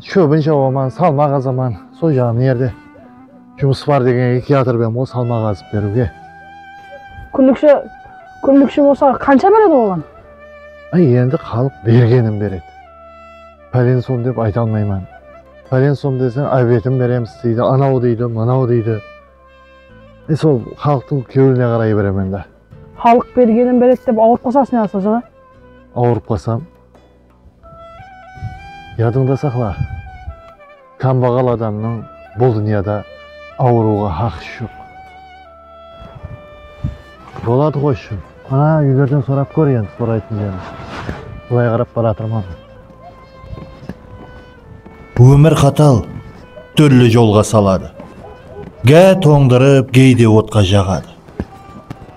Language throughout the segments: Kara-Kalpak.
Shóbin jawaman, salma qazaman, sol jaǵı mına jerde jumıs bar degenge kiyatır bem ǵoy salma qazıp beriwge. Kúnlikshi, kúnlikshi bolsa qansha beredi oǵan? Áy endi xalıq bergenin beredi. Pálen som dep ayta almayman. Pálen som deseń ábetin beremiz deydi, anaw deydi, mınaw deydi. E sol xalıqtıń kewline qaray beremen dá. Xalıq bergenin beredi dep awırıp qalsańız ne qılsa jaǵa? Awırıp qalsam, Yadıńda saqla, kámbaǵal adamnıń bul dúnyada awırıwǵa haqısı joq. Boladı ǵoy, shın. Ana, úylerden sorap kór endi soraytın jerdi. Bılay qarap baratırman. Bu ómir qatal, túrli jolǵa saladı, Gá tońdırıp, geyde otqa jaǵadı.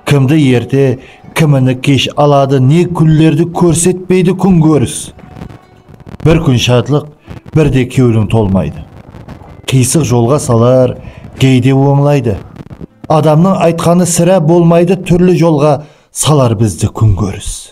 Kimdi erte, kimini kesh aladı, Ne kúnlerdi kórsetpeydi kún kóris. Bir kún shadlıq, bir de kewliń tolmaydı, Qıysıq jolǵa salar, geyde ońlaydı. Adamnıń aytqanı sirá bolmaydı, Túrli jolǵa salar bizdi kún kóris.